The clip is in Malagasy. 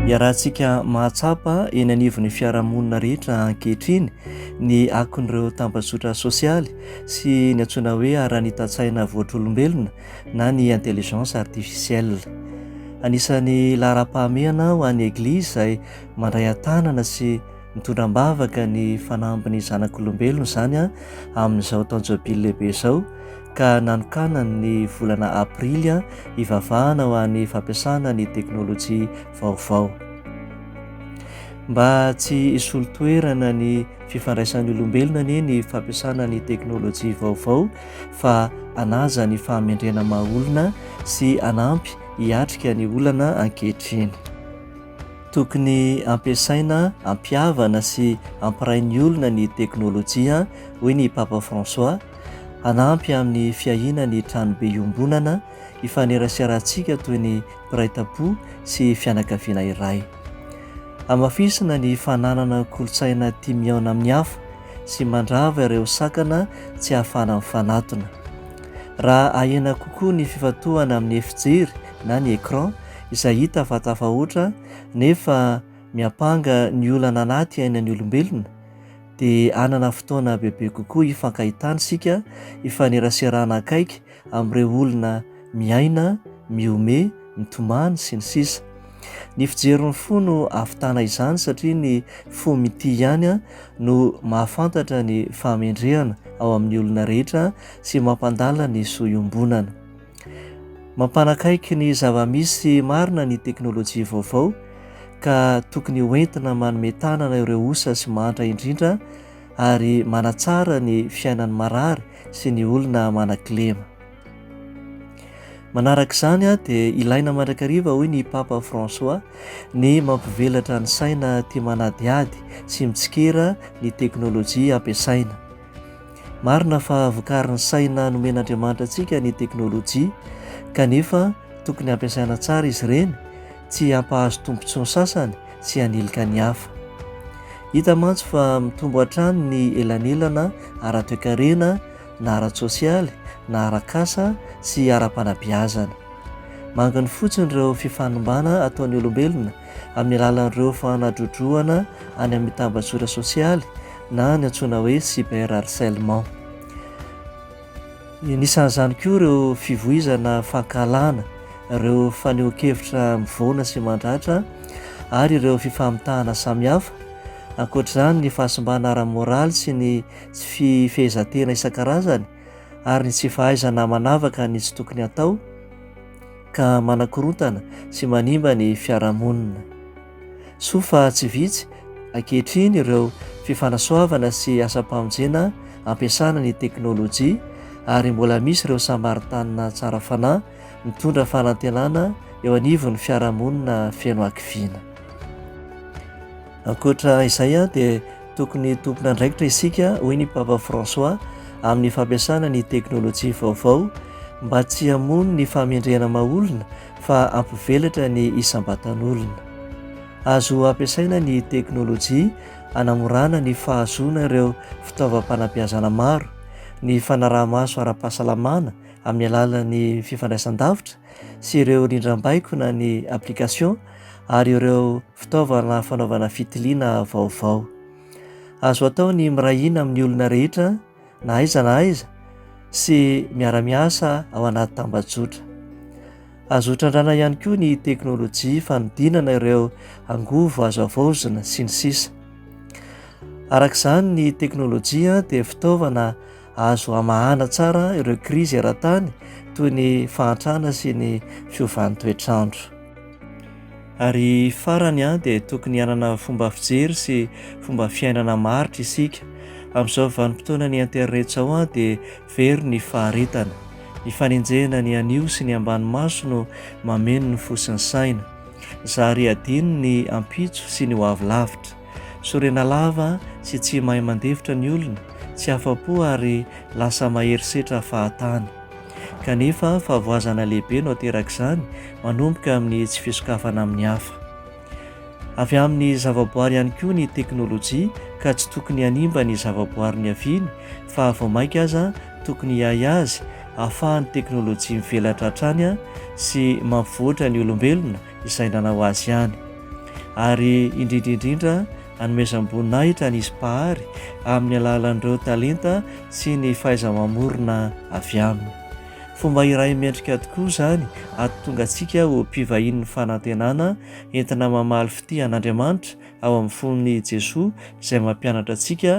Iarahantsika mahatsapa eny anivon'ny fiarahamonina rehetra ankehitriny ny akon'ireo tambajotra sosialy sy ny antsoina hoe ara-nita-tsaina voatr'olombelona na ny intelligence artificielle. Anisan'ny laharam-pahamehana ho an'ny Eglizy izay mandray an-tanana sy Mitondra am-bavaka ny fanambin'ny zanak'olombelona izany amin'izao taon-jobily lehibe izao ka nanokanany ny volana aprily hivavahana ho an'ny fampiasana ny teknolojia vaovao. Mba tsy hisolo toerana ny fifandraisan'ny olombelona anie ny fampiasana ny teknolojia vaovao fa anaja ny fahamendrena maha olona sy hanampy hiatrika ny olana ankehitriny. Tokony ampiasaina hampihavana sy hampiray ny olona ny teknolojia, hoy ny Papa François, hanampy amin'ny fiahiana ny tranobe iombonana ifaneraserahantsika toy ny mpiray tam-po sy fianakaviana iray. Hamafisina ny fananana kolontsaina tia mihaona amin'ny hafa sy mandrava ireo sakana tsy ahafahana mifanatona. Raha ahena kokoa ny fifantohana amin'ny efijery na ny écran izay hita fa tafahoatra nefa miampanga ny olana anaty ainan'ny olombelona, dia hanana fotoana bebe kokoa hifankahitana isika, hifaneraserana akaiky amin'ireo olona miaina, mihomehy, mitomany, sy ny sisa Ny fijerin'ny fo no ahavitana izany satria ny fo mitia ihany no mahafantatra ny fahamendrehana ao amin'ny olona rehetra sy mampandala ny soa iombonana. Mampanakaiky ny zava-misy marina ny teknolojia vaovao ka tokony hoentina manome tanana ireo osa sy mantra indrindra ary manatsara ny fiainan'ny marary sy ny olona manan-kilema. Manaraka izany dia ilaina mandrakariva hoy ny Papa François ny mampivelatra ny saina tia manadihady sy mitsikera ny teknolojia ampiasaina. Marina fa vokarin'ny saina nomen'Andriamanitra antsika ny teknolojia, kanefa tokony hampiasaina tsara izy ireny, tsy hampahazo tombontsoa ny sasany sy hanilika ny hafa. Hita mantsy fa mitombo hatrany ny elanelana ara-toekarena na ara-tsosialy na ara-kasa sy ara-panabeazana. Manginy fotsiny ireo fifanimbana ataon'ny olombelona amin'ny alalan'ireo fanadrodrohana any amin'ny tambajora sosialy, na ny antsoina hoe cyber harcèlement. Anisan'izany koa ireo fivoizana fankahalana, ireo fanehoan-kevitra mivoana sy mandratra ary ireo fifamitahana samihafa. Ankoatra izany, ny fahasimbana ara-moraly sy ny tsy fifehezan-tena isan-karazany ary ny tsy fahaizana manavaka ny tsy tokony hatao ka manakorontana sy manimba ny fiarahamonina. Soa fa tsy vitsy ankehitriny ireo fifanasoavana sy asam-pamonjena ampiasana ny teknolojia ary mbola misy ireo Samaritanina tsara fanahy mitondra fanantenana eo anivon'ny fiarahamonina feno hakiviana. Ankoatra izay dia tokony tompon'andraikitra isika, hoy ny Papa François, amin'ny fampiasana ny teknolojia vaovao mba tsy hamono ny fahamendrehana maha olona fa hampivelatra ny isam-batan'olona. Azo ampiasaina ny teknolojia hanamorana ny fahazoana ireo fitaovam-panabeazana maro, ny fanaraha-maso ara-pahasalamana amin'ny alalan'ny fifandraisan-davitra sy ireo rindrambaiko na ny application ary ireo fitaovana fanaovana fitiliana vaovao. Azo atao ny miray hina amin'ny olona rehetra, na aiza na aiza sy miara-miasa ao anaty tambajotra. Azo hotrandrana ihany koa ny teknolojia fanodinana ireo angovo azo avaozina sy ny sisa. Araka izany ny teknolojia dia fitaovana azo hamahana tsara ireo krizy eran-tany toy ny fahantrana sy ny fiovan'ny toetr'andro. Ary farany an, dia tokony hanana fomba fijery sy fomba fiainana maritra isika. Amin'izao vanim-potoanan'ny internet izao an, dia very ny faharetana. Ny fanenjehana ny anio sy ny ambany maso no mameno ny fo sy ny saina. Zary adino ny ampitso sy ny ho avy lavitra. Sorena lava sy tsy mahay mandefitra ny olona, tsy afa-po ary lasa mahery setra fahatany. Kanefa, fahavoazana lehibe no aterak'izany, manomboka amin'ny tsy fisokafana amin'ny hafa. Avy amin'ny zavaboary ihany koa ny teknolojia, ka tsy tokony hanimba ny zavaboary niaviany, fa vao mainka aza tokony hiahy azy, ahafahan'ny teknolojia mivelatra hatrany sy mampivoatra ny olombelona izay nanao azy ihany, ary indrindra indrindra hanomezam-boninahitra an'izy Mpahary amin'ny alalan'ireo talenta sy ny fahaiza-mamorona avy aminy. Fomba iray mendrika tokoa izany hahatonga antsika ho mpivahinin'ny fanantenana entina mamaly fitia an'Andriamanitra ao amin'ny fon'i Jesoa izay mampianatra antsika